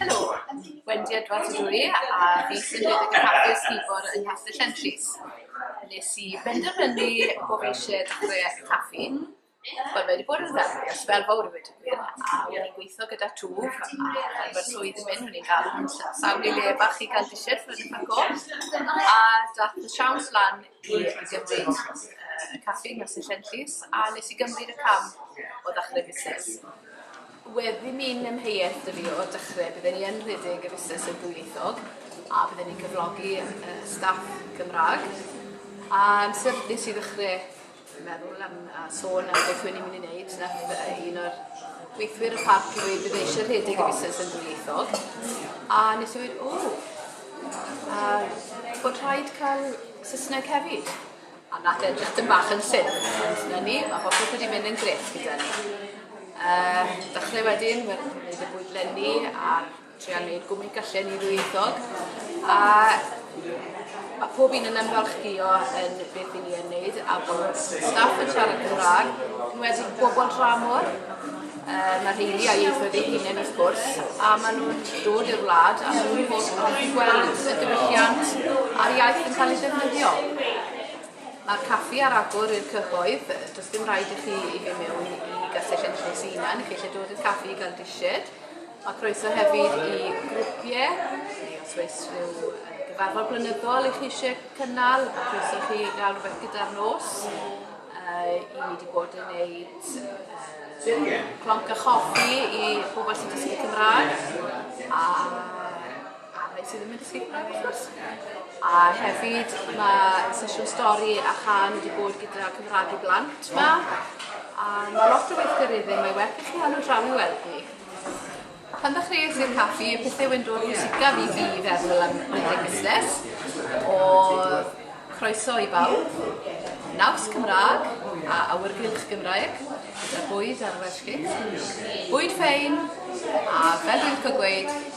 Helo, Wendy Edwards ydw i a fi sy'n rhedeg y caffi Seaboard yng Nghastell Henllys. Nes i benderfynu bo' fi isie dechrau caffi, wel mae 'di bod yn ddel fi ers sbel fowr i weud y gwir, a o'n i'n gweithio gyda twf a pan ma'r swydd yn mynd o'n i'n galw'n sh- sawl i le bach i ga'l dishyn a dath y siawns lan i Gymdeithas y Caffi Merthyr Llanllys a nes i gymryd y cam o ddechrau busnes. Wedi mynd am heiet dw i o'r dechrau, bydden i yn rhedeg y busnes yn ddwyieithog a bydden i'n cyflogi staff Cymraeg. Amser nes i ddechrau Dwi'n meddwl am a sôn am beth rwy'n i'n mynd i wneud, wnaeth uh, un o'r gweithwyr y parc i ddweud bydd eisiau rhedeg y busnes yn ddwyieithog. A nes i ddweud, o, a bod rhaid cael Saesneg hefyd. A nath edrych dyn bach yn llyn, ond na ni, mae popeth wedi mynd yn gref gyda ni. Uh, dechrau wedyn, wedi bod lenni ar Tria wneud gwmni gallen ni ddwyieithog a mae pob un yn ymfalchdio yn beth i ni yn wneud a bod staff yn siarad Cymraeg, yn wedi bobl dramor um, a rheini a ieithoedd eu hunain wrth gwrs, a maen nhw'n dod i'r wlad a maen nhw'n holl yn gweld y diwylliant a'r iaith yn cael ei ddefnyddio. Mae'r caffi ar agor i'r cyhoedd, does dim rhaid i chi i fi mewn i gastell yn lle sy'n i chi eisiau dod i'r caffi i gael disied, A croeso hefyd i grwpiau, neu os oes rhyw gyfarfod blynyddol i chi eisiau cynnal, a croeso chi gael rhywbeth gyda'r nos. Uh, I ni wedi bod yn gwneud uh, clonc a choffi i bobl sy'n dysgu Cymraeg, a, a rhai sydd ddim yn dysgu Cymraeg wrth gwrs. A hefyd mae sesiwn stori a chan wedi bod gyda Cymraeg i blant yma, a mae lot o weithgareddau, mae werth i chi angen draw i weld ni. Pan ddechreuais i'r caffi, y pethau wyn dod pwysicaf i fi i feddwl am rhedeg busnes, o croeso i bawb, naws Cymraeg a awyrgylch Gymraeg, gyda bwyd ar Welsh Cakes, bwyd ffein, a fel dwi'n licio gweud,